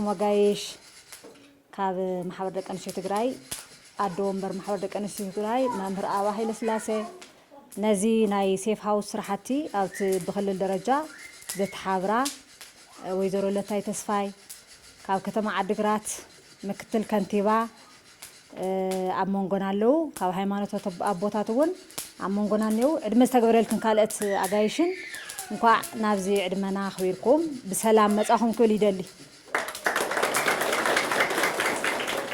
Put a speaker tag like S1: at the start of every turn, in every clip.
S1: መጋየሽ ካብ ማሕበር ደቂ ኣንስትዮ ትግራይ ኣዶ ወንበር ማሕበር ደቂ ኣንስትዮ ትግራይ መምህር ኣባ ሃይለስላሴ ነዚ ናይ ሴፍ ሃውስ ስራሕቲ ኣብቲ ብክልል ደረጃ ዘተሓብራ ወይዘሮ ለታይ ተስፋይ ካብ ከተማ ዓዲግራት ምክትል ከንቲባ ኣብ መንጎና ኣለው ካብ ሃይማኖት ኣቦታት እውን ኣብ መንጎና እኒው ዕድመ ዝተገበረልክን ካልኦት ኣጋይሽን እንኳዕ ናብዚ ዕድመና ኣኽቢርኩም ብሰላም መፃኹም ክብል ይደሊ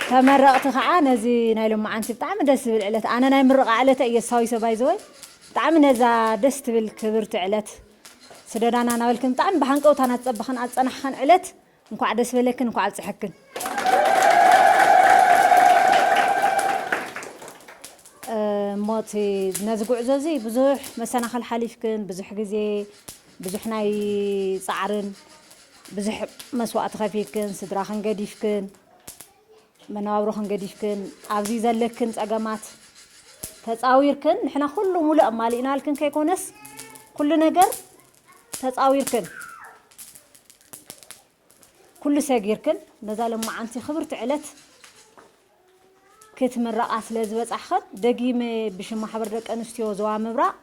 S1: ተመረቕቲ ከዓ ነዚ ናይ ሎማዓንቲ ብጣዕሚ ደስ ዝብል ዕለት ኣነ ናይ ምርቓ ዕለተ እየ ዝሳዊሶ ባይዘወይ ብጣዕሚ ነዛ ደስ ትብል ክብርቲ ዕለት ስደዳና ናበልክን ብጣዕሚ ብሃንቀውታ ናትፀበኸን ኣፀናሕኸን ዕለት እንኳዕ ደስ በለክን እንኳዕ ኣብፀሐክን። እሞ እቲ ነዚ ጉዕዞ እዚ ብዙሕ መሰናኽል ሓሊፍክን ብዙሕ ግዜ ብዙሕ ናይ ፃዕርን ብዙሕ መስዋእቲ ከፊልክን ስድራኽን ገዲፍክን መነባብሮኽን ገዲፍክን ኣብዚ ዘለክን ፀገማት ተፃዊርክን ንሕና ኩሉ ሙሉእ ኣማሊእናልክን ከይኮነስ ኩሉ ነገር ተጻዊርክን ኩሉ ሰጊርክን ነዛ ለማዓንቲ ክብርቲ ዕለት ክትምረቓ ስለ ዝበጻሕኽን ደጊመ ብሽም ማሕበር ደቂ ኣንስትዮ ዞባ ምብራቕ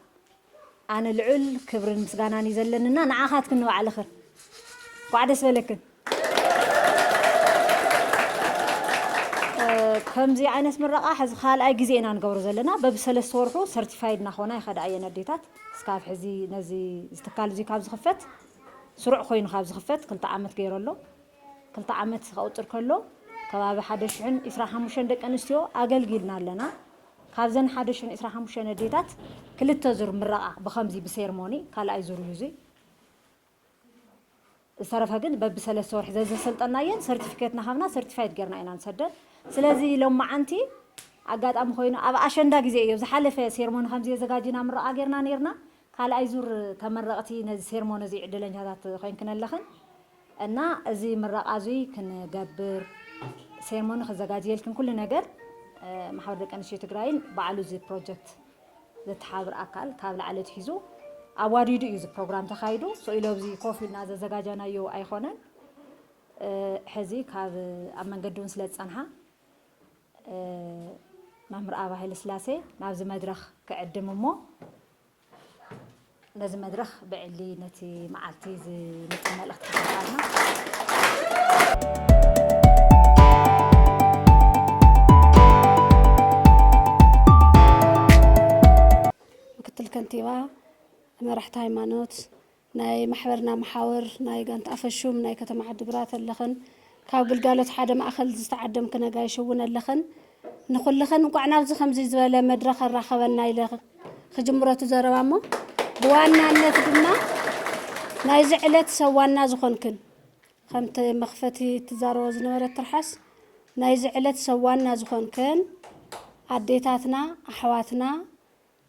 S1: ኣነ ልዑል ክብርን ምስጋናን እዩ ዘለኒ እና ንዓኻትክን ንባዕልኽን እንኳዕ ደስ በለክን። ከምዚ ዓይነት ምረቓ ሕዚ ካልኣይ ግዜ ኢና ንገብሮ ዘለና። በብሰለስተ ወርሑ ሰርቲፋይድ እናኾና ይኸዳ እየን ኣዴታት። እስካብ ሕዚ ነዚ እዚ ትካል እዙይ ካብ ዝኽፈት ስሩዕ ኮይኑ ካብ ዝኽፈት ክልተ ዓመት ገይሩ ኣሎ። ክልተ ዓመት ከቑፅር ከሎ ከባቢ ሓደ ሽሕን ዕስራን ሓሙሽተን ደቂ ኣንስትዮ ኣገልጊልና ኣለና። ካብዘን ሓደ ሽሕን ዕስራን ሓሙሽተን ኣዴታት ክልተ ዙር ምረቓ ብኸምዚ ብሴርሞኒ ካልኣይ ዙር እዩ እዙይ። ዝተረፈ ግን በብሰለስተ ወርሒ ዘዘሰልጠናየን ሰርቲፊኬት ናሃብና ሰርቲፋይድ ጌርና ኢና ንሰደን ስለዚ ሎማዓንቲ ኣጋጣሚ ኮይኑ ኣብ ኣሸንዳ ግዜ እዮ ዝሓለፈ ሴርሞኒ ከምዚ የዘጋጂና ምረቓ ጌርና ኔርና ካልኣይ ዙር ተመረቕቲ ነዚ ሴርሞኒ እዚ ዕድለኛታት ኮይንክን ኣለኽን እና እዚ ምረቓ እዙይ ክንገብር ሴርሞኒ ክዘጋጅየልክን ኩሉ ነገር ማሕበር ደቂ ኣንስትዮ ትግራይን ባዕሉ እዚ ፕሮጀክት ዘተሓብር ኣካል ካብ ላዕሊ ኣትሒዙ ኣዋዲዱ እዩ እዚ ፕሮግራም ተኻይዱ ኢሉ ኣብዚ ኮፍ ኢልና ዘዘጋጃናዮ ኣይኾነን ሕዚ ካብ ኣብ መንገዲ እውን ስለ ዝፀንሓ መምህር ኣብ ሃይለስላሴ ናብዚ መድረኽ ክዕድም እሞ ነዚ መድረኽ ብዕሊ ነቲ መዓልቲ ዝምጥን መልእኽቲ ተጠቃምና ከንቲባ፣ መራሕቲ ሃይማኖት፣ ናይ ማሕበርና መሓውር፣ ናይ ጋንታ ኣፈሹም፣ ናይ ከተማ ዓዲግራት ኣለኽን ካብ ግልጋሎት ሓደ ማእኸል ዝተዓደምክን ነጋይሽ እውን ኣለኽን። ንኹልኽን እንኳዕ ናብዚ ከምዚ ዝበለ መድረኽ ኣራኸበና ኢለ ክጅምረቱ ዘረባ እሞ ብዋናነት ድማ ናይዚ ዕለት ሰብ ዋና ዝኾንክን ከምቲ መኽፈቲ ትዛረቦ ዝነበረት ትርሓስ ናይዚ ዕለት ሰብ ዋና ዝኾንክን ኣዴታትና ኣሕዋትና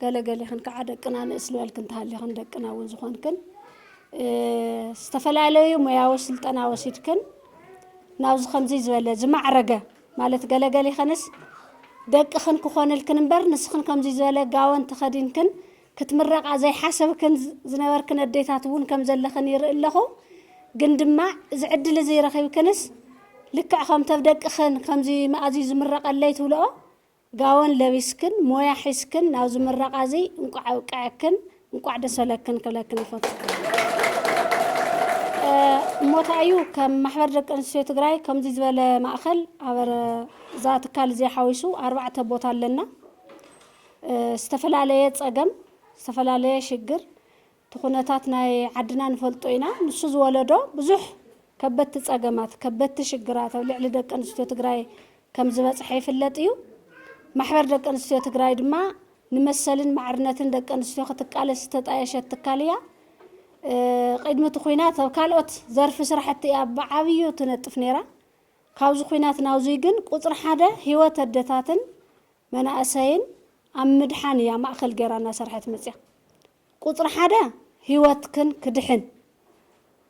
S1: ገለ ገሊኽን ከዓ ደቅና ንእስ ዝበልክን ተሃሊኽን ደቅና እውን ዝኾንክን ዝተፈላለዩ ሞያዊ ስልጠና ወሲድክን ናብዚ ከምዚ ዝበለ ዝማዕረገ ማለት ገለ ገሊኸንስ ደቅኽን ክኾንልክን እምበር ንስኽን ከምዚ ዝበለ ጋወን ተኸዲንክን ክትምረቓ ዘይሓሰብክን ዝነበርክን ኣዴታት እውን ከም ዘለኽን ይርኢ ኣለኹ ግን ድማ እዚ ዕድል እዚ ረኺብክንስ ልክዕ ከምተብ ደቅኽን ከምዚ መኣዝዩ ዝምረቐለይ ትብልኦ ጋወን ለቢስክን ሞያ ሒዝክን ናብዚ ምረቓ እዚ እንቋዕ ኣብቀዐክን እንቋዕ ደሰለክን ክብለክን ይፈቱ። እሞታ እዩ ከም ማሕበር ደቂ ኣንስትዮ ትግራይ ከምዚ ዝበለ ማእኸል ኣብ እዛ ትካል እዚኣ ሓዊሱ ኣርባዕተ ቦታ ኣለና። ዝተፈላለየ ፀገም፣ ዝተፈላለየ ሽግር፣ እቲ ኩነታት ናይ ዓድና ንፈልጦ ኢና። ንሱ ዝወለዶ ብዙሕ ከበድቲ ፀገማት፣ ከበድቲ ሽግራት ኣብ ልዕሊ ደቂ ኣንስትዮ ትግራይ ከም ዝበፅሐ ይፍለጥ እዩ። ማሕበር ደቂ ኣንስትዮ ትግራይ ድማ ንመሰልን ማዕርነትን ደቂ ኣንስትዮ ክትቃለስ ዝተጣየሸት ትካል እያ። ቅድሚ እቲ ኩናት ኣብ ካልኦት ዘርፊ ስራሕቲ እያ ብዓብዩ ትነጥፍ ነይራ። ካብዚ ኩናት ናብዙይ ግን ቁፅሪ ሓደ ህይወት ኣደታትን መናእሰይን ኣብ ምድሓን እያ ማእኸል ገይራ እናሰርሐት መፅያ። ቁጽሪ ሓደ ህይወትክን ክድሕን፣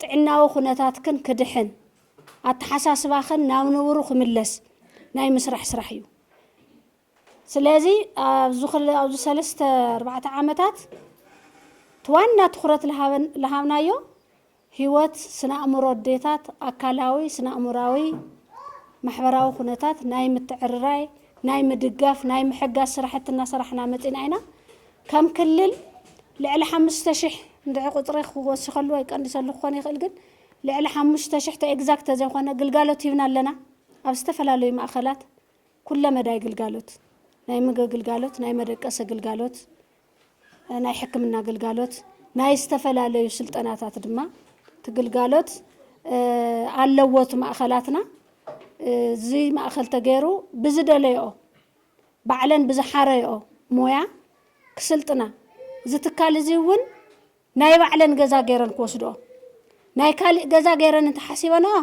S1: ጥዕናዊ ኩነታትክን ክድሕን፣ ኣተሓሳስባኽን ናብ ንቡሩ ክምለስ ናይ ምስራሕ ስራሕ እዩ። ስለዚ ኣብዚ ሰለስተ ኣርባዕተ ዓመታት እቲ ዋና ትኹረት ልሃብናዮ፣ ህይወት፣ ስነ-ኣእምሮ ኣዴታት፣ ኣካላዊ፣ ስነ-ኣእምሮኣዊ፣ ማሕበራዊ ኩነታት ናይ ምትዕርራይ፣ ናይ ምድጋፍ፣ ናይ ምሕጋዝ ስራሕቲ እናሰራሕና መፂእና ኢና። ከም ክልል ልዕሊ ሓሙሽተ ሽሕ እንድዒ ቁፅሪ ክወስኸሉ ወይ ክቀንሰሉ ክኾን ይኽእል ግን ልዕሊ ሓሙሽተ ሽሕ ተኤግዛክት ተዘይኾነ ግልጋሎት ሂብና ኣለና። ኣብ ዝተፈላለዩ ማእኸላት ኩለ መዳይ ግልጋሎት ናይ ምግቢ ግልጋሎት፣ ናይ መደቀሲ ግልጋሎት፣ ናይ ሕክምና ግልጋሎት ናይ ዝተፈላለዩ ስልጠናታት ድማ እቲ ግልጋሎት ኣለዎ እቲ ማእኸላትና እዚ ማእኸል ተገይሩ ብዝደለየኦ ባዕለን ብዝሓረየኦ ሞያ ክስልጥና እዚ ትካል እዚ እውን ናይ ባዕለን ገዛ ገይረን ክወስድኦ ናይ ካሊእ ገዛ ገይረን እንተሓሲበንኦ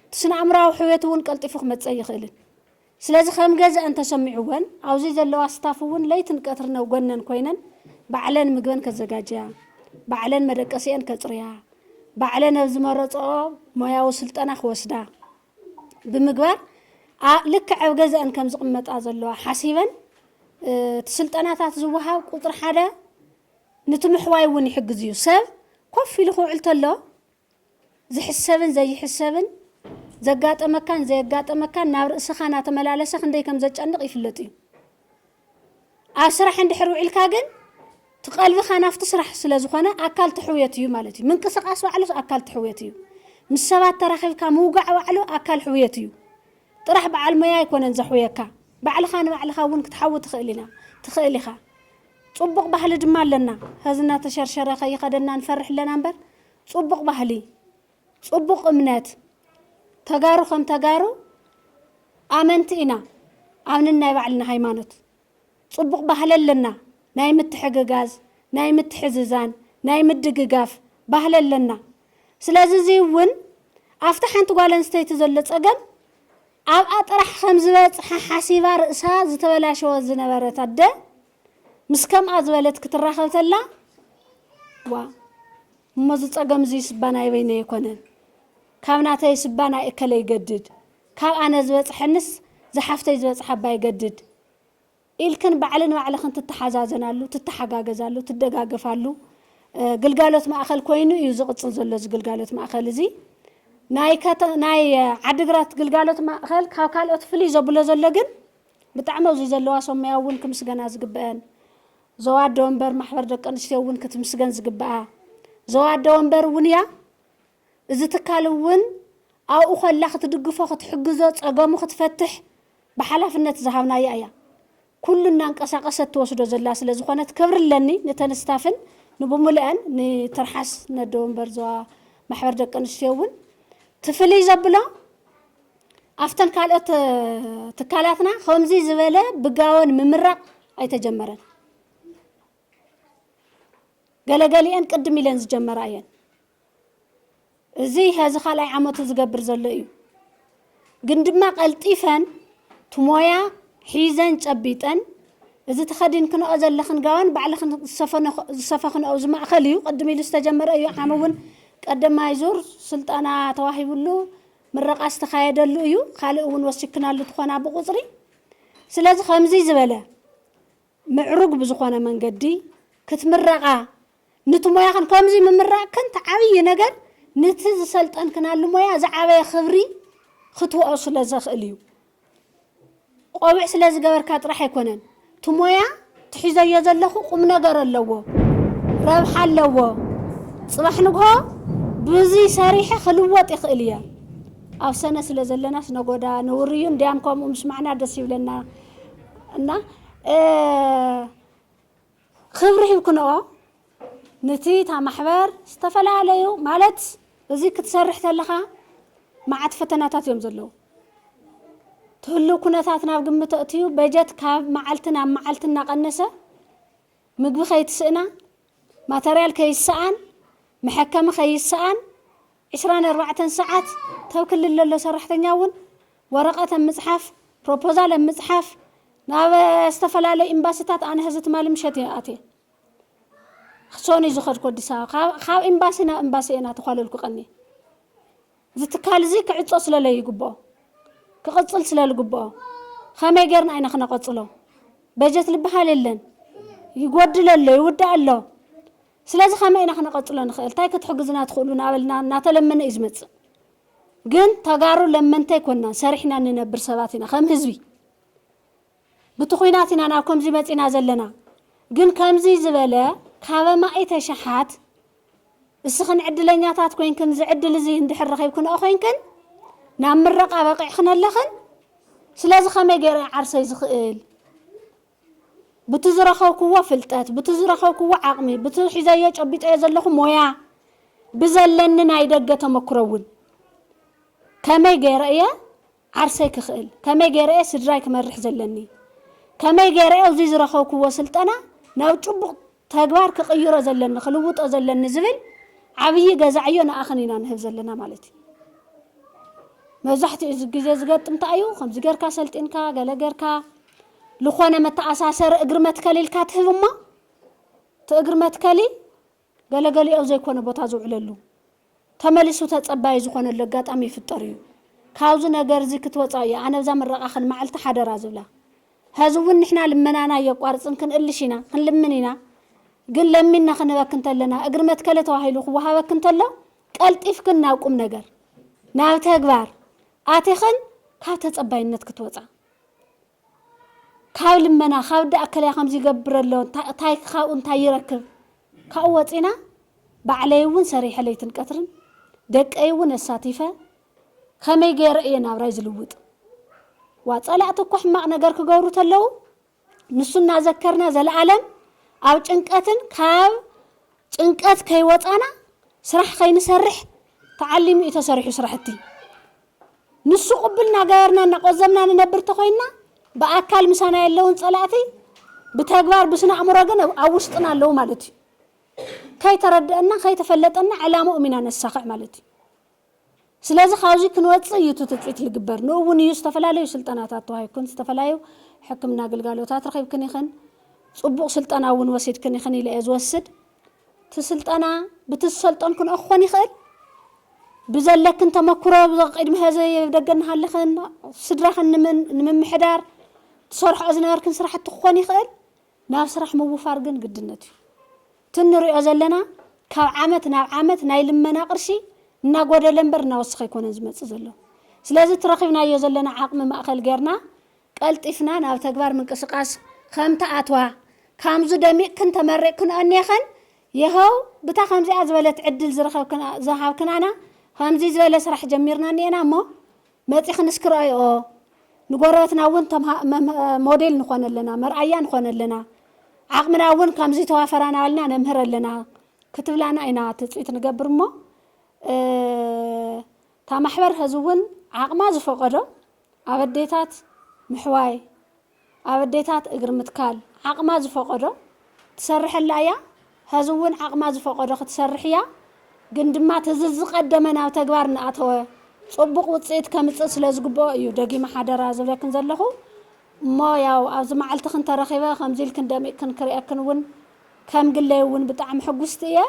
S1: እቲ ስነ ኣእምራዊ ሕውየት እውን ቀልጢፉ ክመፀእ ይኽእልን ስለዚ ከም ገዘኣን ተሰሚዕወን ኣብዙይ ዘለዋ ስታፍ እውን ለይትን ቀትርን ኣብ ጎነን ኮይነን ባዕለን ምግበን ከዘጋጅያ፣ ባዕለን መደቀሲኤን ከፅርያ፣ ባዕለን ኣብ ዝመረፅኦ ሞያዊ ስልጠና ክወስዳ ብምግባር ልክዕ ኣብ ገዘኣን ከም ዝቕመጣ ዘለዋ ሓሲበን እቲ ስልጠናታት ዝወሃብ ቁፅሪ ሓደ ንቲ ምሕዋይ እውን ይሕግዝ እዩ። ሰብ ኮፍ ኢሉ ክውዕል ተሎ ዝሕሰብን ዘይሕሰብን፣ ዘጋጠመካን ዘየጋጠመካን ናብ ርእስኻ ናተመላለሰ ክንደይ ከም ዘጨንቕ ይፍለጥ እዩ። ኣብ ስራሕ እንድሕር ውዒልካ ግን እቲ ቀልብኻ ናብቲ ስራሕ ስለ ዝኾነ ኣካል እቲ ሕውየት እዩ ማለት እዩ። ምንቅስቓስ ባዕሉስ ኣካል እቲ ሕውየት እዩ። ምስ ሰባት ተራኺብካ ምውጋዕ ባዕሉ ኣካል ሕውየት እዩ። ጥራሕ በዓል ሞያ ኣይኮነን ዘሕውየካ፣ ባዕልኻ ንባዕልኻ እውን ክትሓዊ ትኽእል ኢና ትኽእል ኢኻ። ፅቡቕ ባህሊ ድማ ኣለና። ሐዚ እናተሸርሸረ ከይኸደና ንፈርሕ ኣለና እምበር ጹቡቅ ባህሊ ጹቡቅ እምነት ተጋሩ ከም ተጋሩ ኣመንቲ ኢና ኣብ ንናይ ባዕልና ሃይማኖት ጹቡቅ ባህሊ ኣለና ናይ ምትሕግጋዝ ናይ ምትሕዝዛን ናይ ምድግጋፍ ባህሊ ኣለና ስለዚ እዚ ውን ኣብታ ሓንቲ ጓል ኣንስተይቲ ዘሎ ጸገም ኣብኣ ጥራሕ ከም ዝበጽሓ ሓሲባ ርእሳ ዝተበላሸወት ዝነበረት ኣደ ምስ ከምኣ ዝበለት ክትራኸብ ተላ ዋእ እሞ እዚ ጸገም እዚ ስባ ናይ በይነይ ኣይኮነን ካብ ናተይ ስባ ናይ እከለ ይገድድ ካብ ኣነ ዝበጽሐንስ ዝሓፍተይ ዝበጽሓ እባ ይገድድ ኢልክን ባዕሊ ንባዕልኽን ትተሓዛዘናሉ ትተሓጋገዛሉ ትደጋገፋሉ ግልጋሎት ማእኸል ኮይኑ እዩ ዝቕጽል ዘሎ እዚ ግልጋሎት ማእኸል እዚ ናይ ዓድግራት ግልጋሎት ማእኸል ካብ ካልኦት ፍልይ ዘብሎ ዘሎ ግን ብጣዕሚ ኣብዚ ዘለዋ ሰሙያ እውን ክምስገና ዝግበኣን ዞባ ኣደ ወንበር ማሕበር ደቂ ኣንስትዮ እውን ክትምስገን ዝግበኣ ዞባ ኣደ ወንበር እውን እያ እዚ ትካል እውን ኣብኡ ከላ ክትድግፎ ክትሕግዞ ፀገሙ ክትፈትሕ ብሓላፍነት ዝሃብናያ እያ ኩሉ እናንቀሳቀሰት ትወስዶ ዘላ ስለ ዝኾነት ክብሪ ኣለኒ ነተን ስታፍን ንብሙልአን ንትርሓስ ነደ ወንበር ዞባ ማሕበር ደቂ ኣንስትዮ እውን ትፍልይ ዘብሎ ኣፍተን ካልኦት ትካላትና ከምዙይ ዝበለ ብጋወን ምምራቕ ኣይተጀመረን። ገለገሊኤን ቅድም ኢለን ዝጀመራ እየን። እዙይ ሀዚ ካልኣይ ዓመቱ ዝገብር ዘሎ እዩ። ግን ድማ ቀልጢፈን ትሞያ ሒዘን ጨቢጠን እዚ ተኸዲንክንኦ ዘለኽን ጋወን ባዕልኽን ዝሰፈኽንኦ እዚ ማእኸል እዩ ቅድም ኢሉ ዝተጀመረ እዩ ዓም እውን ቀደማይ ዙር ስልጠና ተዋሂብሉ ምረቓ ዝተኻየደሉ እዩ ካልእ እውን ወሲክናሉ ትኾና ብቑፅሪ ስለዚ ከምዙይ ዝበለ ምዕሩግ ብዝኾነ መንገዲ ክትምረቓ ንቲ ሞያኽን ከምዙይ ምምራቕክን እቲ ዓብዪ ነገር ንቲ ዝሰልጠንክናሉ ሞያ ዝዓበየ ክብሪ ክትወኦ ስለዘኽእል እዩ ቆብዕ ስለ ዝገበርካ ጥራሕ ኣይኮነን እቲ ሞያ ትሒዘዮ ዘለኹ ቁም ነገር ኣለዎ ረብሓ ኣለዎ ጽባሕ ንግሆ ብዙይ ሰሪሐ ክልወጥ ይኽእል እየ ኣብ ሰነ ስለ ዘለናስ ነጎዳ ንውርዩ እንዲያም ከምኡ ምስ ማዕና ደስ ይብለና እና ኽብሪ ሂብክንኦ ንቲ እታ ማሕበር ዝተፈላለዩ ማለት እዚ ክትሰርሕ ተለኻ ማዓት ፈተናታት እዮም ዘለዉ ትህሉ ኩነታት ናብ ግምት ኣእትዩ በጀት ካብ ማዓልቲ ናብ ማዓልቲ እናቀነሰ ምግቢ ከይትስእና ማተርያል ከይሰኣን መሐከሚ ከይሰኣን ዕስራን ኣርባዕተን ሰዓት ተብ ክልል ለሎ ሰራሕተኛ እውን ወረቐት ኣብ ምጽሓፍ፣ ፕሮፖዛል ኣብ ምጽሓፍ፣ ናብ ዝተፈላለዩ ኤምባሲታት ኣነ ሕዚ ትማሊ ምሸት እየ ኣትየ። ክሶን እዩ ዝኸድኩ ኣዲስ ኣበባ። ካብ ኤምባሲ ናብ ኤምባሲ እየ ናተዃለልኩ ቀንየ። እዚ ትካል እዚ ክዕጾ ስለለይግብኦ፣ ክቕጽል ስለልግብኦ፣ ከመይ ጌርና ኢና ክነቐጽሎ? በጀት ልበሃል የለን፣ ይጎድል ኣሎ፣ ይውዳእ ኣሎ። ስለዚ ከመይ ኢና ክነቐጽሎ ንኽእል? እንታይ ክትሕግዙና ትኽእሉ? ናበልና ናተለመነ እዩ ዝመጽእ። ግን ተጋሩ ለመንቲ ኣይኮናን ሰሪሕና እንነብር ሰባት ኢና ከም ህዝቢ ብቲ ኩናት ኢና ናብ ከምዚ መጺና ዘለና ግን ከምዚ ዝበለ ካብ ኣማኢተ ሸሓት እስኽን ዕድለኛታት ኮይንክን ዝዕድል እዚ እንድሕር ረኺብክንኦ ኮይንክን ናብ ምረቃ በቂዕክን ኣለኽን ስለዚ ከመይ ገይረ ዓርሰይ ዝኽእል ቡቲ ዝረኸብኩዎ ፍልጠት፣ ቡቲ ዝረኸብኩዎ ዓቕሚ፣ ቡቲ ሒዘዮ ጨቢጠዮ ዘለኹ ሞያ፣ ብዘለኒ ናይ ደገ ተመክሮ እውን ከመይ ገይረ እየ ዓርሰይ ክኽእል፣ ከመይ ገይረ እየ ስድራይ ክመርሕ ዘለኒ፣ ከመይ ገይረ እየ እዙይ ዝረኸብኩዎ ስልጠና ናብ ጭቡቕ ተግባር ክቕይሮ ዘለኒ፣ ክልውጦ ዘለኒ ዝብል ዓብዪ ገዛ ዕዮ ንኣኽን ኢና ንህብ ዘለና ማለት እዩ። መብዛሕትኡ ግዜ ዝገጥም እንታይ እዩ፣ ከምዚ ገይርካ ሰልጢንካ ገለ ገይርካ ልኾነ መተኣሳሰሪ እግሪ መትከሊ ኢልካ ትህብ እሞ እቲ እግሪ መትከሊ ገለ ገሊኡ ኣብ ዘይኮነ ቦታ ዝውዕለሉ ተመሊሱ ተጸባዪ ዝኾነሉ ኣጋጣሚ ይፍጠር እዩ። ካብዚ ነገር እዚ ክትወጻ እየ ኣነ ኣብዛ ምረቓኽን መዓልቲ ሓደራ ዝብላ። ሀዚ እውን ንሕና ልመናና ኣየቋርጽን ክንእልሽ ኢና ክንልምን ኢና ግን ለሚንና ክንህበክ እንተለና እግሪ መትከሊ ተባሂሉ ክወሃበክ እንተሎ ቀልጢፍክን ናብ ቁም ነገር ናብ ተግባር ኣቲኽን ካብ ተጸባይነት ክትወጻ ካብ ልመና ካብ እንዳ እከለ ከምዚ ይገብር ኣሎ ታይ ካብኡ እንታይ ይረክብ ካብኡ ወጺና ባዕለይ እውን ሰሪሐ ለይትን ቀትርን ደቀይ እውን ኣሳቲፈ ከመይ ገይረ እየ ናብራይ ዝልውጥ ዋ ጸላእቲ እኮ ሕማቅ ነገር ክገብሩ ተለው ንሱ እናዘከርና ዘለኣለም ኣብ ጭንቀትን ካብ ጭንቀት ከይወጻና ስራሕ ከይንሰርሕ ተዓሊሙ እዩ ተሰሪሑ ስራሕቲ ንሱ ቅብል እናገበርና እናቆዘምና ንነብር ተኾይንና ብኣካል ምሳና የለውን ፀላእቲ ብተግባር ብስነ ኣእምሮ ግን ኣብ ውሽጥና ኣለዉ ማለት እዩ። ከይተረደእና ከይተፈለጠና ዕላምኦም ኢና ነሳኽዕ ማለት እዩ። ስለዚ ካብዚ ክንወፅእ እዩ እቲ ትፅቢት ልግበር። ንኡ እውን እዩ ዝተፈላለዩ ስልጠናታት ተዋሂብክን ዝተፈላለዩ ሕክምና ግልጋሎታት ረኺብክን ኢኽን። ፅቡቕ ስልጠና እውን ወሲድክን ኢኽን ኢለ እየ ዝወስድ። እቲ ስልጠና ብቲ ዝሰልጠን ክንኦ ክኾን ይኽእል ብዘለክን ተመክሮ ቅድሚ ሀዘ ደገ እናሃለኽን ስድራኽን ንምምሕዳር ትሰርሖ ዝነበርክን ስራሕቲ ክኾን ይኽእል ናብ ስራሕ ምውፋር ግን ግድነት እዩ እቲ ንሪኦ ዘለና ካብ ዓመት ናብ ዓመት ናይ ልመና ቅርሺ እናጎደለ እምበር እናወሰኸ ኣይኮነን ዝመፅእ ዘሎ ስለዚ ትረኺብናዮ ዘለና ዓቕሚ ማእኸል ጌርና ቀልጢፍና ናብ ተግባር ምንቅስቃስ ኸም ትኣትዋ ካምዙ ደሚቕክን ተመሪቕክን ኦኔኸን የኸው ብታ ኸምዚኣ ዝበለት ዕድል ዝረኸብክናና ኸምዙይ ዝበለ ስራሕ ጀሚርና እኔኤና እሞ መፂኽን እስኪ ረኦይኦ ንጎረበትና እውን ሞዴል ንኾነለና መርኣያ ንኾነለና ዓቕምና እውን ካምዙይ ተዋፈራና እልና ነምህረለና ክትብላና ኢና ትፅቢት ንገብር እሞ እታ ማሕበር ኸዚ እውን ዓቕማ ዝፈቐዶ ኣብ ኣዴታት ምሕዋይ፣ ኣብ ኣዴታት እግሪ ምትካል ዓቕማ ዝፈቐዶ ትሰርሐላ እያ፣ ሀዚ እውን ዓቕማ ዝፈቐዶ ክትሰርሕ እያ፣ ግን ድማ እቲ ዝዝቐደመ ናብ ተግባር እናኣተወ ፅቡቕ ውፅኢት ከምፅእ ስለዝግበኦ እዩ ደጊመ ሓደራ ዝብለክን ዘለኹ፣ እሞ ያው ኣብዚ መዓልትኽን ተረኺበ ከምዚ ኢልክን ደሚቕክን ክሪኤክን እውን ከም ግለይ እውን ብጣዕሚ ሕጉስቲ እየ፣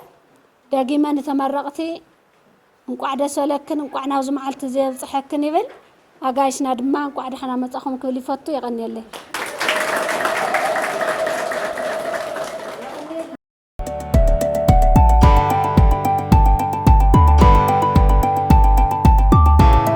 S1: ደጊመ ንተመረቕቲ። እንቋዕ ደስ በለክን እንቋዕ ናብዚ መዓልቲ እዚ የብጽሐክን ይብል። ኣጋይሽና ድማ እንቋዕ ደሓና መጻኹም ክብል ይፈቱ። የቐንየለይ።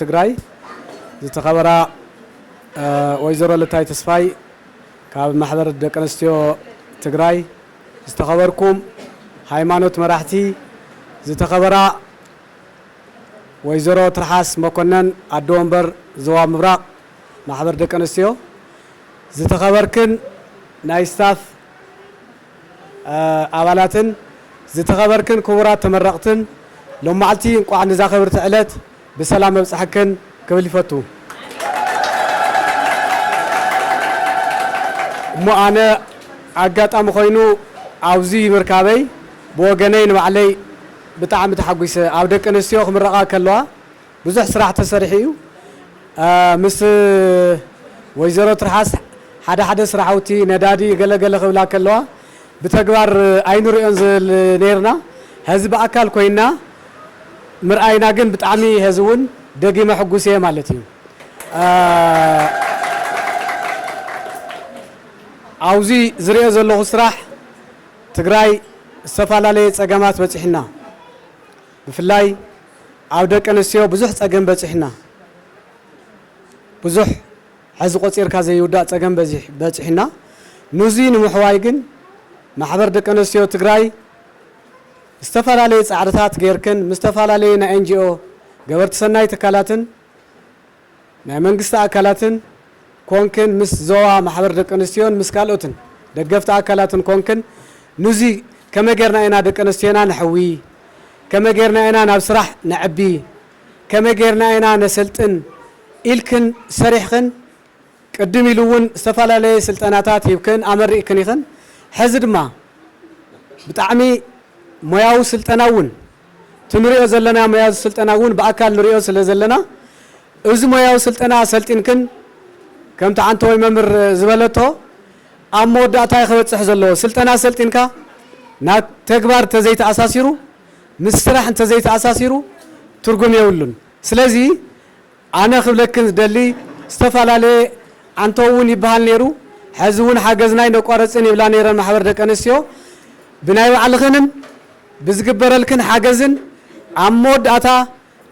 S2: ትግራይ ዝተኸበራ ወይዘሮ ልታይ ተስፋይ ካብ ማሕበር ደቂ ኣንስትዮ ትግራይ ዝተኸበርኩም ሃይማኖት መራሕቲ ዝተኸበራ ወይዘሮ ትርሓስ መኮነን ኣደ ወንበር ዞባ ምብራቕ ማሕበር ደቂ ኣንስትዮ ዝተኸበርክን ናይ ስታፍ ኣባላትን ዝተኸበርክን ክቡራት ተመረቕትን ሎማዕልቲ እንቋዕ ንዛ ክብርቲ ዕለት ብሰላም ኣብፀሐክን ክብል ይፈቱ እሞ ኣነ ኣጋጣሚ ኮይኑ ኣብዚ ምርካበይ ብወገነይ ንባዕለይ ብጣዕሚ ተሓጒሰ ኣብ ደቂ ኣንስትዮ ክምረቓ ከለዋ ብዙሕ ስራሕ ተሰሪሑ እዩ ምስ ወይዘሮ ትርሓስ ሓደ ሓደ ስራሕውቲ ነዳዲ ገለ ገለ ክብላ ከለዋ ብተግባር ኣይንሪኦን ዝብል ነይርና ሀዚ ብኣካል ኮይና ምርኣይና ግን ብጣዕሚ ሀዚ እውን ደጊመ ሕጉስ እየ ማለት እዩ ኣውዙይ ዝሪኦ ዘለኹ ስራሕ ትግራይ ዝተፈላለየ ፀገማት በፂሑና ብፍላይ ኣብ ደቂ ኣንስትዮ ብዙሕ ፀገም በፂሑና ብዙሕ ሐዚ ቆፂርካ ዘይውዳእ ፀገም በፂሑና ኑዙይ ንምሕዋይ ግን ማሕበር ደቂ ኣንስትዮ ትግራይ ዝተፈላለዩ ፃዕርታት ገይርክን ምስ ዝተፈላለዩ ናይ NGO ገበርቲ ሰናይ ትካላትን ናይ መንግስቲ ኣካላትን ኮንክን ምስ ዞባ ማሕበር ደቂ ኣንስትዮን ምስ ካልኦትን ደገፍቲ ኣካላትን ኮንክን ኑዚ ከመይ ጌርና ኢና ደቂ ኣንስትዮና ነሕዊ፣ ከመይ ጌርና ኢና ናብ ስራሕ ነዕቢ፣ ከመይ ጌርና ኢና ነሰልጥን ኢልክን ሰሪሕኽን ቅድም ኢሉ እውን ዝተፈላለየ ስልጠናታት ሂብክን ኣመሪቕክን ኢኽን ሕዚ ድማ ብጣዕሚ ሞያዊ ስልጠና እውን እቲ ንሪኦ ዘለና ሞያዊ ስልጠና እውን ብኣካል ንሪኦ ስለ ዘለና እዚ ሞያዊ ስልጠና ሰልጢንክን ከምቲ ሓንተወይ መምህር ዝበለቶ ኣብ መወዳእታ እዩ ክበፅሕ ዘለዎ። ስልጠና ሰልጢንካ ናብ ተግባር እንተዘይተኣሳሲሩ ምስ ስራሕ እንተዘይተኣሳሲሩ ትርጉም የብሉን። ስለዚ ኣነ ክብለክን ዝደሊ ዝተፋላለየ ኣንቶ ውን ይባሃል ነይሩ ሐዚ ውን ሓገዝና ኣይነቋርፅን ይብላ ነይረን ማሕበር ደቂ ኣንስትዮ ብናይ ባዕልኽንን ብዝግበረልክን ሓገዝን ኣብ መወዳእታ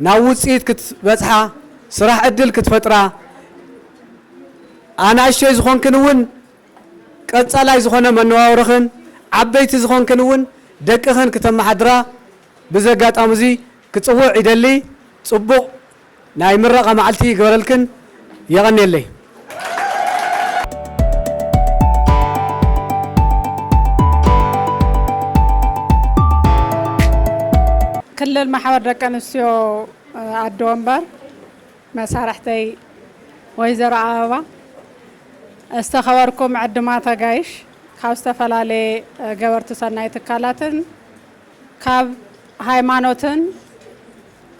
S2: ናብ ውፅኢት ክትበፅሓ ስራሕ ዕድል ክትፈጥራ ኣናእሽተይ ዝኾንክን ውን ቀፃላይ ዝኾነ መነባብሮኽን ዓበይቲ ዝኾንክን ውን ደቅኽን ክተማሓድራ ብዚ ኣጋጣሚ እዙይ ክፅውዕ ይደሊ ፅቡቕ ናይ ምረቓ መዓልቲ ይግበረልክን የቐንየለይ።
S3: ክልል ማሕበር ደቂ ኣንስትዮ ኣዲ ወንበር መሳርሕተይ ወይዘሮ ኣበባ ዝተኸበርኩም ዕድማት ኣጋይሽ ካብ ዝተፈላለየ ገበርቲ ሰናይ ትካላትን ካብ ሃይማኖትን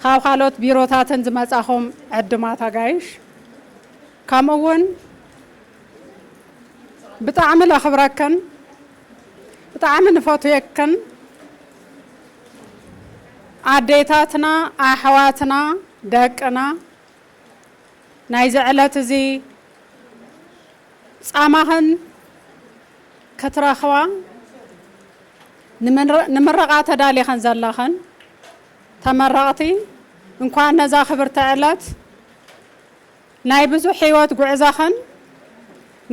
S3: ካብ ካልኦት ቢሮታትን ዝመጻኹም ዕድማት ኣጋይሽ ከምኡ እውን ብጣዕሚ ለኽብረክን ብጣዕሚ ንፈትየክን ኣዴታትና ኣሕዋትና ደቅና ናይዚ ዕለት እዚ ጻማኽን ክትረኽባ ንምረቓ ተዳሊኽን ዘለኽን ተመረቕቲ እንኳዕ ነዛ ክብርቲ ዕለት ናይ ብዙሕ ሕይወት ጉዕዛኽን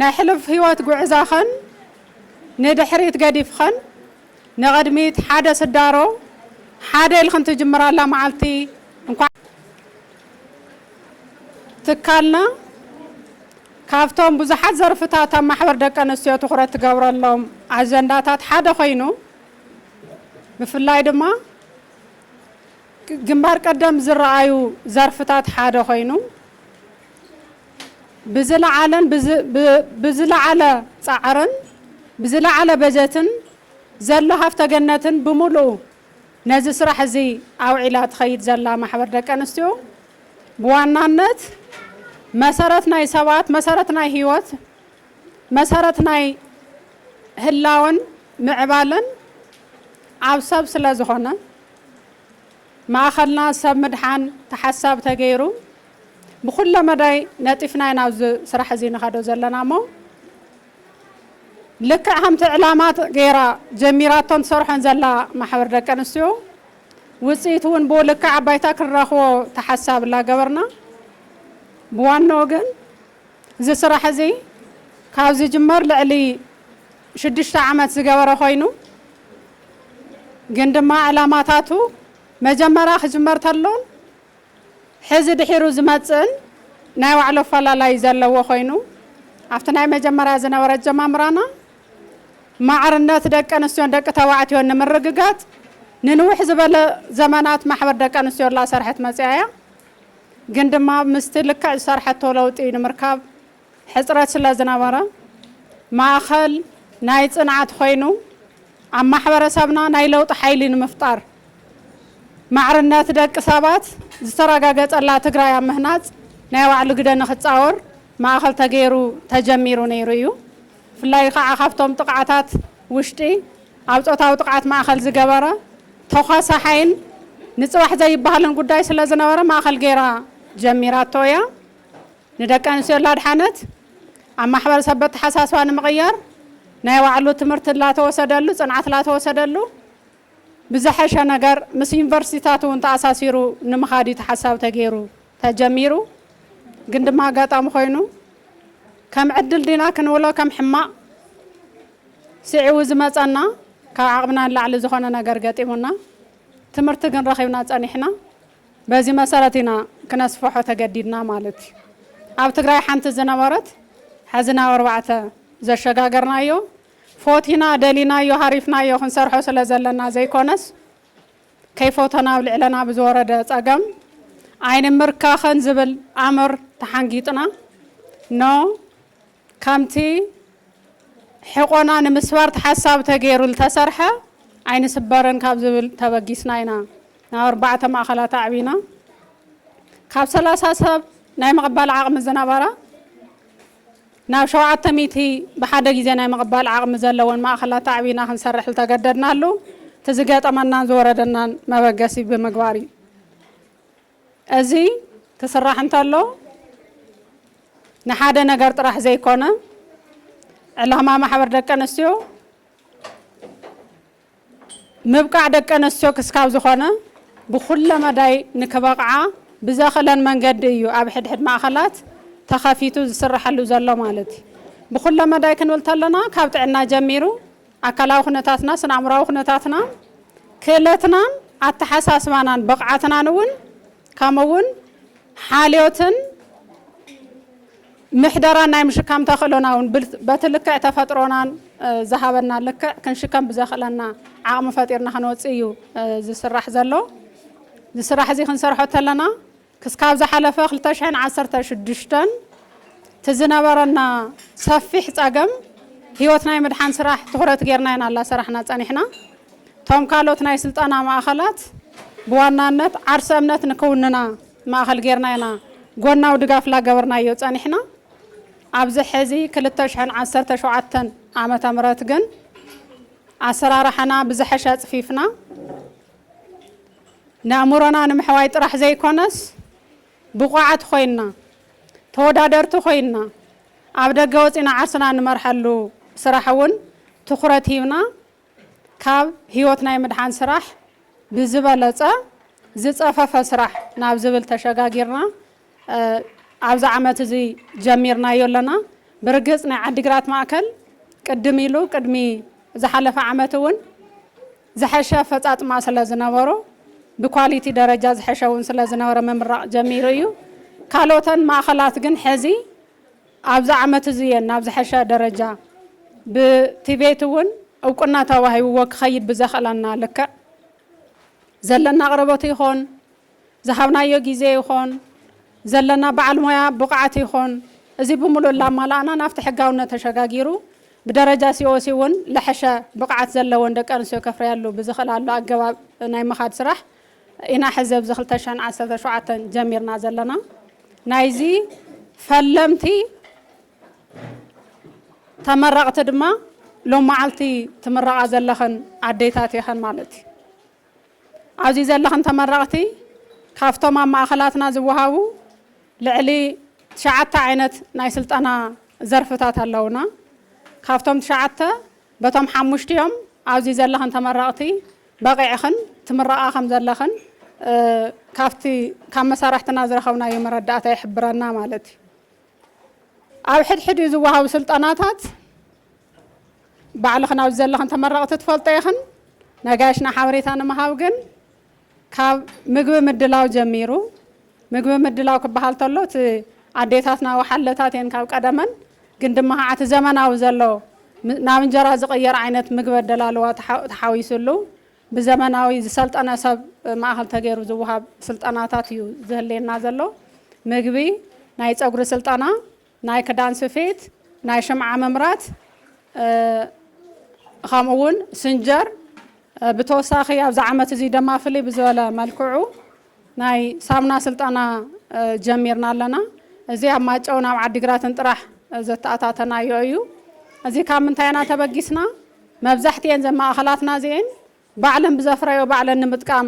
S3: ናይ ሕሉፍ ሕይወት ጉዕዛኽን ንድሕሪት ገዲፍኽን ንቕድሚት ሓደ ስዳሮ ሓደ ኢልኽን ትጅምራላ መዓልቲ እንኳዕ ትካልና ካብቶም ብዙሓት ዘርፍታት ኣብ ማሕበር ደቂ ኣንስትዮ ትኹረት ትገብረሎም ኣጀንዳታት ሓደ ኮይኑ ብፍላይ ድማ ግንባር ቀደም ዝረኣዩ ዘርፍታት ሓደ ኮይኑ ብዝለዓለን ብዝለዓለ ፃዕርን ብዝለዓለ በጀትን ዘሎ ሃፍተ ገነትን ብምሉኡ ነዚ ስራሕ እዚ ኣውዒላ ትኸይድ ዘላ ማሕበር ደቂ ኣንስትዮ ብዋናነት መሰረት ናይ ሰባት መሰረት ናይ ህይወት መሰረት ናይ ህላወን ምዕባለን ኣብ ሰብ ስለ ዝኾነ፣ ማእኸልና ሰብ ምድሓን ተሓሳብ ተገይሩ ብኹለ መዳይ ነጢፍና ኢና ኣብዚ ስራሕ እዚ ንኸዶ ዘለና እሞ ልክዕ ከምቲ ዕላማ ገይራ ጀሚራቶን ትሰርሖን ዘላ ማሕበር ደቂ ኣንስትዮ ውፅኢት እውን ብኡ ልክዕ ኣባይታ ክንረኽቦ ተሓሳብ ላገበርና ብዋናኡ ግን እዚ ስራሕ እዚ ካብ ዝጅመር ልዕሊ ሽዱሽተ ዓመት ዝገበረ ኮይኑ ግን ድማ ዕላማታቱ መጀመርያ ክጅመር ተሎን ሕዚ ድሒሩ ዝመጽእን ናይ ባዕሉ ኣፈላላይ ዘለዎ ኮይኑ ኣብቲ ናይ መጀመርያ ዝነበረ ኣጀማምራና ማዕርነት ደቂ ኣንስትዮን ደቂ ተባዕትዮን ንምርግጋጽ ንንውሕ ዝበለ ዘመናት ማሕበር ደቂ ኣንስትዮ ላሰርሐት መጽያ እያ። ግን ድማ ምስቲ ልክዕ ዝሰርሐቶ ለውጢ ንምርካብ ሕጽረት ስለ ዝነበረ፣ ማእከል ናይ ጽንዓት ኮይኑ፣ ኣብ ማሕበረሰብና ናይ ለውጢ ሓይሊ ንምፍጣር፣ ማዕርነት ደቂ ሰባት ዝተረጋገጸላ ትግራይ ኣብ ምህናጽ ናይ ባዕሉ ግደ ንክጻወር ማእከል ተገይሩ ተጀሚሩ ነይሩ እዩ። ብፍላይ ኻዓ ካብቶም ጥቕዓታት ውሽጢ ኣብ ፆታዊ ጥቕዓት ማእኸል ዝገበረ ተዃሳሓይን ንፅባሕ ዘይበሃልን ጉዳይ ስለዝነበረ ማእኸል ገይራ ጀሚራቶ እያ። ንደቂ ኣንስትዮ ላድሓነት ኣብ ማሕበረሰብ በተሓሳስባ ንምቕያር ናይ ባዕሉ ትምህርቲ ላተወሰደሉ ፅንዓት ላተወሰደሉ ብዝሐሸ ነገር ምስ ዩኒቨርሲቲታት እውን ተኣሳሲሩ ንምኻድ እዩ እቲ ሓሳብ ተገይሩ ተጀሚሩ። ግን ድማ ኣጋጣሚ ኮይኑ ከም ዕድል ዲና ክንብሎ ከም ሕማቕ ስዒቡ ዝመፀና ካብ ዓቕምና ንላዕሊ ዝኾነ ነገር ገጢሙና ትምህርቲ ግን ረኺብና ፀኒሕና። በዚ መሰረት ኢና ክነስፍሖ ተገዲድና ማለት እዩ። ኣብ ትግራይ ሓንቲ ዝነበረት ሐዚ ናብ ኣርባዕተ ዘሸጋገርናዮ ፎቲና ደሊናዮ ሃሪፍናዮ ክንሰርሖ ስለ ዘለና ዘይኮነስ ከይፎተና ኣብ ልዕለና ብዝወረደ ጸገም ኣይንምርካኸን ዝብል ኣምር ተሓንጊጥና ን ከምቲ ሕቆና ንምስባር ተሓሳቢ ተገይሩ ልተሰርሐ ኣይንስበርን ካብ ዝብል ተበጊስና ኢና ናብ ኣርባዕተ ማእኸላት ኣዕቢና ካብ ሰላሳ ሰብ ናይ ምቕባል ዓቕሚ ዝነበራ ናብ ሸውዓተ ሚእቲ ብሓደ ግዜ ናይ ምቕባል ዓቕሚ ዘለወን ማእኸላት ኣዕቢና ክንሰርሕ ዝተገደድናሉ እቲ ዝገጠመናን ዝወረደናን መበገሲ ብምግባር እዩ። እዚ ክስራሕ እንተሎ ንሓደ ነገር ጥራሕ ዘይኮነ ዕላማ ማሕበር ደቂ ኣንስትዮ ምብቃዕ ደቂ ኣነስትዮ ክስካብ ዝኾነ ብኹለ መዳይ ንክበቕዓ ብዘኽእለን መንገዲ እዩ ኣብ ሕድሕድ ማእኸላት ተኸፊቱ ዝስረሐሉ ዘሎ ማለት እዩ። ብኹለ መዳይ ክንብል ተለና ካብ ጥዕና ጀሚሩ ኣካላዊ ኩነታትና፣ ስነ ኣእምሮኣዊ ኩነታትና፣ ክእለትናን ኣተሓሳስባናን ብቕዓትናን እውን ከምኡ እውን ሓልዮትን ምሕደራን ናይ ምሽካም ተኽእሎና እውን በቲ ልክዕ ተፈጥሮናን ዝሃበና ልክዕ ክንሽከም ብዘኽእለና ዓቕሚ ፈጢርና ክንወፅእ እዩ ዝስራሕ ዘሎ እዚ ስራሕ እዚ ክንሰርሖ ተለና ክስካብ ዝሓለፈ 216 እቲ ዝነበረና ሰፊሕ ፀገም ህይወት ናይ ምድሓን ስራሕ ትኹረት ጌርና ኢና እናሰራሕና ፀኒሕና እቶም ካልኦት ናይ ስልጠና ማእኸላት ብዋናነት ዓርሰ እምነት ንክውንና ማእኸል ገይርና ኢና ጎናዊ ድጋፍ ላገበርናዮ ፀኒሕና። ኣብዚ ሕዚ ክልተ ሽሕን ዓሰርተ ሸውዓተን ዓመተ ምህረት ግን ኣሰራርሓና ብዝሐሸ ኣፅፊፍና ነእምሮና ንምሕዋይ ጥራሕ ዘይኮነስ ብቑዓት ኾይንና ተወዳደርቲ ኾይንና ኣብ ደገ ወፂና ዓርስና ንመርሐሉ ስራሕ እውን ትኹረት ሂብና ካብ ህይወት ናይ ምድሓን ስራሕ ብዝበለፀ ዝፀፈፈ ስራሕ ናብ ዝብል ተሸጋጊርና ኣብዚ ዓመት እዚ ጀሚርናዮ ኣለና። ብርግፅ ናይ ዓዲግራት ማእከል ቅድም ኢሉ ቅድሚ ዝሓለፈ ዓመት እውን ዝሐሸ ኣፈፃፅማ ስለ ዝነበሮ ብኳሊቲ ደረጃ ዝሐሸ እውን ስለ ዝነበረ ምምራቕ ጀሚሩ እዩ። ካልኦተን ማእኸላት ግን ሐዚ ኣብዚ ዓመት እዚ እየን ናብ ዝሐሸ ደረጃ ብቲቤት እውን እውቅና ተዋሂብዎ ክኸይድ ብዘኽእላና ልክዕ ዘለና ኣቕርቦት ይኾን ዝሃብናዮ ጊዜ ይኾን ዘለና በዓል ሞያ ብቕዓት ይኾን እዚ ብሙሉእ እላማላእና ናብቲ ሕጋውነት ተሸጋጊሩ ብደረጃ ሲኦሲ እውን ልሐሸ ብቕዓት ዘለወን ደቂ ኣንስትዮ ከፍርያሉ ብዝኽእላሉ ኣገባብ ናይ ምኻድ ስራሕ ኢና ሕዚ ኣብዚ ክልተ ሽሕን ዓሰርተ ሸውዓተን ጀሚርና ዘለና ናይዚ ፈለምቲ ተመረቕቲ ድማ ሎመዓልቲ ትምረቓ ዘለኽን ኣዴታት ኢኸን ማለት እዩ ኣብዚ ዘለኽን ተመረቕቲ ካብቶም ኣብ ማእኸላትና ዝወሃቡ ልዕሊ ትሽዓተ ዓይነት ናይ ስልጠና ዘርፍታት ኣለውና ካብቶም ትሽዓተ በቶም ሓሙሽቲኦም ኣብዚ ዘለኽን ተመረቕቲ በቒዕኽን ትምረቓ ከም ዘለኽን ካብቲ ካብ መሳርሕትና ዝረኸብናዮ መረዳእታ ይሕብረና ማለት እዩ። ኣብ ሕድሕዲኡ ዝወሃቡ ስልጠናታት ባዕልኽን ኣብዚ ዘለኽን ተመረቕቲ ትፈልጦ ኢኽን። ነጋይሽና ሓበሬታ ንምሃብ ግን ካብ ምግቢ ምድላው ጀሚሩ ምግቢ ምድላው ክበሃል ተሎ እቲ ኣዴታትና ወሓለታት እየን ካብ ቀደመን ግን ድማ ከዓ እቲ ዘመናዊ ዘሎ ናብ እንጀራ ዝቕየር ዓይነት ምግቢ ኣደላልዋ ተሓዊሱሉ ብዘመናዊ ዝሰልጠነ ሰብ ማእኸል ተገይሩ ዝወሃብ ስልጠናታት እዩ ዝህልየና ዘሎ ምግቢ ናይ ፀጉሪ ስልጠና ናይ ክዳን ስፌት፣ ናይ ሽምዓ ምምራት ኸምኡ ውን ስንጀር ብተወሳኺ ኣብዚ ዓመት እዚ ደማ ፍልይ ብዝበለ መልክዑ ናይ ሳሙና ስልጠና ጀሚርና ኣለና። እዚ ኣብ ማጨውን ኣብ ዓዲግራትን ጥራሕ ዘተኣታተናዮ እዩ። እዚ ካብ ምንታይ ኢና ተበጊስና መብዛሕትኤን ዘ ማእኸላትና እዚኤን ባዕለን ብዘፍረዮ ባዕለን ንምጥቃም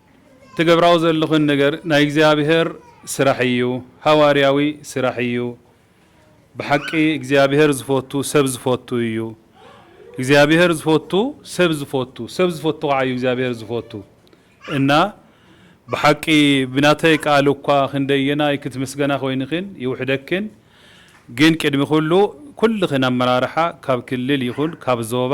S4: ትገብራዎ ዘለኽን ነገር ናይ እግዚኣብሔር ስራሕ እዩ ሃዋርያዊ ስራሕ እዩ ብሓቂ እግዚኣብሔር ዝፈቱ ሰብ ዝፈቱ እዩ እግዚኣብሔር ዝፈቱ ሰብ ዝፈቱ ሰብ ዝፈቱ ካዓ እዩ እግዚኣብሔር ዝፈቱ እና ብሓቂ ብናተይ ቃል እኳ ክንደየናይ ክትምስገና ኮይንክን ይውሕደክን ግን ቅድሚ ኩሉ ኩልኽን ኣመራርሓ ካብ ክልል ይኹን ካብ ዞባ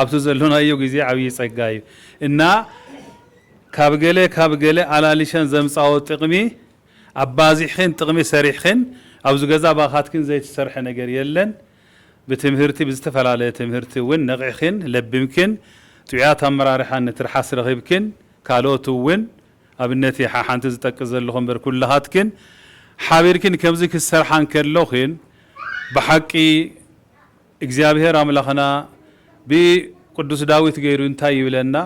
S4: ኣብቲ ዘሎናዮ ግዜ ዓብዪ ጸጋ እዩ እና ካብ ገለ ካብ ገለ ኣላሊሸን ዘምጻኦ ጥቅሚ ኣባዚሕኺን ጥቅሚ ሰሪሕኺን ኣብዚ ገዛ ባኻትክን ዘይትሰርሐ ነገር የለን ብትምህርቲ ብዝተፈላለየ ትምህርቲ እውን ነቂሕኺን ለቢምክን ጥዑያት ኣመራርሓ ንትርሓስ ረኺብክን ካልኦት እውን ኣብነት እየ ሓሓንቲ ዝጠቅስ ዘለኹ እምበር ኩላኻትክን ሓቢርክን ከምዚ ክትሰርሓ እንከሎኽን ብሓቂ እግዚኣብሔር ኣምላኽና ብቅዱስ ዳዊት ገይሩ እንታይ ይብለና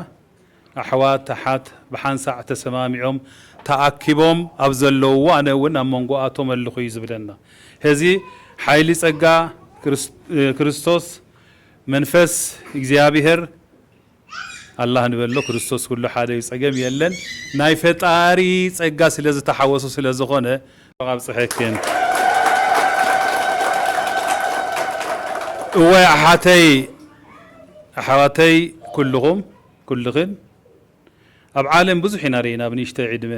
S4: ኣሕዋት ኣሓት ብሓንሳዕ ተሰማሚዖም ተኣኪቦም ኣብ ዘለውዎ ኣነ እውን ኣብ መንጎኣቶም ኣለኹ እዩ ዝብለና ሔዚ ሓይሊ ፀጋ ክርስቶስ መንፈስ እግዚኣብሔር ኣላህ ንበሎ ክርስቶስ ኩሉ ሓደ ዩ ጸገም የለን ናይ ፈጣሪ ጸጋ ስለ ዝተሓወሶ ስለ ዝኾነ እንኳዕ ኣብጸሐክን እዋይ ኣሓተይ ኣሕዋተይ ኩልኹም ኩልኽን ኣብ ዓለም ብዙሕ ኢና ሪኢና ብ ንእሽተይ ዕድመ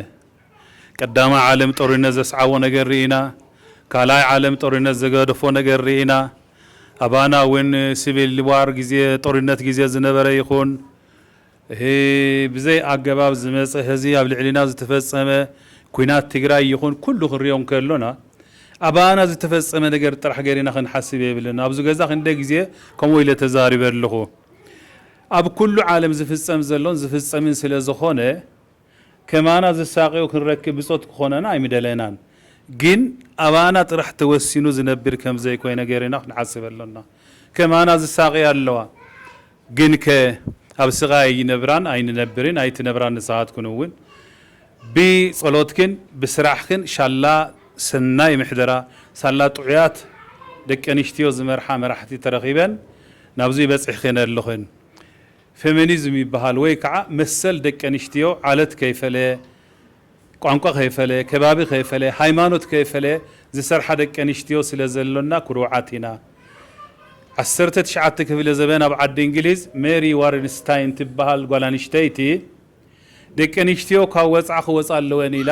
S4: ቀዳማይ ዓለም ጦሪነት ዘስዓቦ ነገር ሪኢና ካልኣይ ዓለም ጦሪነት ዝገደፎ ነገር ሪኢና ኣባና ውን ስቪል ዋር ግዜ ጦሪነት ግዜ ዝነበረ ይኩን እሂ ብዘይ ኣገባብ ዝመጸ ህዚ ኣብ ልዕሊና ዝተፈጸመ ኩናት ትግራይ ይኩን ኩሉ ክንሪኦ እንከሎና ኣባና ዝተፈጸመ ነገር ጥራሕ ገሪና ክንሓስብ የብልና ኣብዚ ገዛ ክንደይ ግዜ ከምኡ ኢለ ተዛሪበ ኣለኩ ኣብ ኩሉ ዓለም ዝፍጸም ዘሎን ዝፍጸምን ስለ ዝኮነ ከማና ዝሳቐዩ ክንረክብ ብጾት ክኾነና ኣይምደለናን። ግን ኣባና ጥራሕ ተወሲኑ ዝነብር ከምዘይኮይነ ገይርና ክንሓስብ ኣሎና። ከማና ዝሳቐያ ኣለዋ። ግንከ ኣብ ስቓይ ኣይነብራን ኣይንነብርን ኣይትነብራን ንስኻትክን እውን። ብጸሎትክን ብስራሕክን ሻላ ሰናይ ምሕደራ ሳላ ጥዑያት ደቀንሽትዮ ዝመርሓ መራሕቲ ተረኺበን ናብዙይ በጺሕክን ኣለኽን። ፌሚኒዝም ይበሃል ወይ ከዓ መሰል ደቂ ኣንሽትዮ ዓለት ከይፈለየ፣ ቋንቋ ከይፈለየ፣ ከባቢ ከይፈለየ፣ ሃይማኖት ከይፈለየ ዝሰርሓ ደቂ ኣንሽትዮ ስለ ዘሎና ኩሩዓት ኢና። ዓሰርተ ትሽዓተ ክፍለ ዘበን ኣብ ዓዲ እንግሊዝ ሜሪ ዋርንስታይን ትበሃል ጓል ኣንሽተይቲ ደቂ ኣንሽትዮ ካብ ወፅዓ ክወፃ ኣለወን ኢላ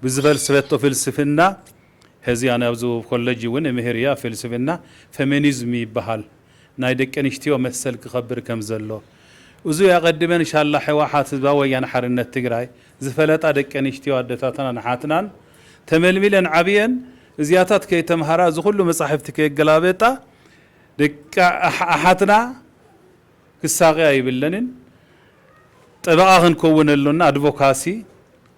S4: ብዝፈልስፈቶ ፍልስፍና ሐዚ ኣነ ኣብ ዝቡብ ኮለጅ እውን እምህር እየ ኣብ ፍልስፍና ፈሜኒዝም ይበሃል ናይ ደቂ ኣንሽትዮ መሰል ክኸብር ከም ዘሎ እዙይ ኣቐድመን ሻላ ሕዋሓት ህዝባዊ ወያነ ሓርነት ትግራይ ዝፈለጣ ደቂ ኣንሽትዮ ኣደታትናን ኣሓትናን ተመልሚለን ዓብየን እዚኣታት ከይተምሃራ እዙ ኹሉ መፃሕፍቲ ከየገላበጣ ደቂ ኣሓትና ክሳቐ ኣይብለንን ጠበቓ ክንከውን ኣሎና ኣድቮካሲ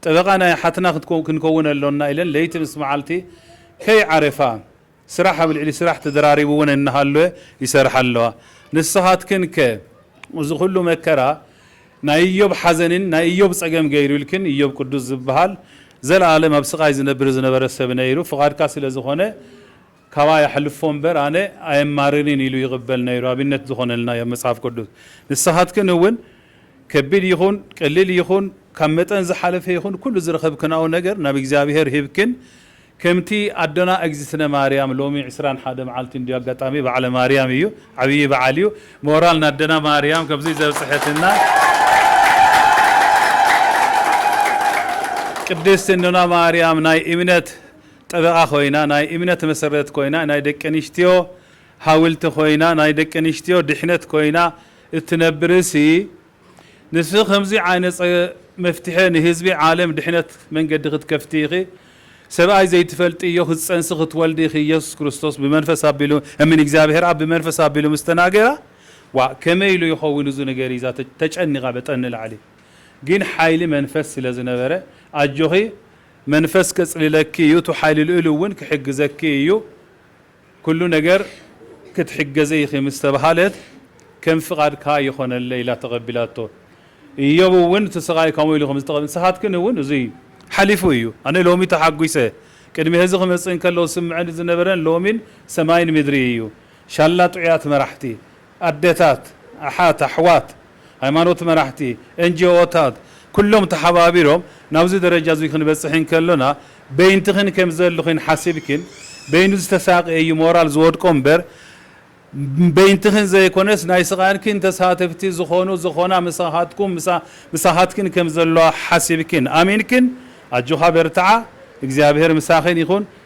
S4: ጠበቓ ናይ ኣሓትና ክንከውን ኣሎና ኢለን ለይቲ ምስ መዓልቲ ከይዓረፋ ስራሕ ኣብ ልዕሊ ስራሕ ተደራሪቡ እውን እናሃለወ ይሰርሓ ኣለዋ ንስኻትክን ከ እዚ ኩሉ መከራ ናይ እዮብ ሓዘንን ናይ እዮብ ጸገም ገይሩልክን እዮብ ቅዱስ ዝብሃል ዘለኣለም ኣብ ስቓይ ዝነብር ዝነበረ ሰብ ነይሩ ፍቓድካ ስለ ዝኾነ ካባይ ኣሕልፎ እምበር ኣነ ኣየማርርን ኢሉ ይቕበል ነይሩ ኣብነት ዝኾነልና ዩ ኣብ መጽሓፍ ቅዱስ ንስኻትክን እውን ከቢድ ይኹን ቀሊል ይኹን ካብ መጠን ዝሓለፈ ይኹን ኩሉ ዝረኸብክናኦ ነገር ናብ እግዚኣብሄር ሂብክን ከምቲ ኣዶና እግዝእትነ ማርያም ሎሚ ዕስራን ሓደ መዓልቲ እንድዩ ኣጋጣሚ በዓለ ማርያም እዩ ዓብዪ በዓል እዩ ሞራል ናደና ማርያም ከምዙይ ዘብጽሐትና ቅድስት እኖና ማርያም ናይ እምነት ጠበቓ ኮይና ናይ እምነት መሰረት ኮይና ናይ ደቂ ኣንስትዮ ሃውልቲ ኮይና ናይ ደቂ ኣንስትዮ ድሕነት ኮይና እትነብርሲ ንስኺ ከምዚ ዓይነጸ መፍትሐ ንህዝቢ ዓለም ድሕነት መንገዲ ክትከፍቲ ኢኺ ሰብኣይ ዘይትፈልጥዮ ክትጸንሲ ክትወልዲ ኢኺ ኢየሱስ ክርስቶስ ብመንፈስ ኣቢሉ እምን እግዚኣብሔር ኣብ ብመንፈስ ኣቢሉ ምስ ተናገራ ዋእ ከመይ ኢሉ ይኸውን እዚ ነገር ኢዛ ተጨኒቓ በጠን ንላዕሊ ግን ሓይሊ መንፈስ ስለ ዝነበረ ኣጆኺ መንፈስ ከጽልለኪ እዩ እቱ ሓይሊ ልኡል እውን ክሕግዘኪ እዩ ኩሉ ነገር ክትሕገዘ ኢኺ ምስ ተባሃለት ከም ፍቓድካ ይኾነለይ ኢላ ተቐቢላቶ እዮብ እውን እቲ ስቓይ ከምኡ ኢሉ ከም ዝተቐበለ ንስኻትክን እውን እዙይ ሓሊፉ እዩ ኣነ ሎሚ ተሓጒሰ ቅድሚ ሀዚ ክመጽእ እንከሎ ዝስምዐኒ ዝነበረን ሎሚን ሰማይን ምድሪ እዩ ሻላ ጥዑያት መራሕቲ ኣዴታት፣ ኣሓት፣ ኣሕዋት፣ ሃይማኖት መራሕቲ፣ ኤንጅኦታት ኩሎም ተሓባቢሮም ናብዚ ደረጃ እዚ ክንበጽሕ እንከሎና በይንትኽን ከምዘልኽን ሓሲብክን በይኑ ዝተሳቀየ እዩ ሞራል ዝወድቆ እምበር በይንትኽን ዘይኮነስ ናይ ስቃንክን ተሳተፍቲ ዝኾኑ ዝኾና ምሳኻትኩም ምሳኻትክን ከምዘለዋ ሓሲብክን ኣሚንክን ኣጆኻ በርትዓ እግዚኣብሄር ምሳኽን ይኹን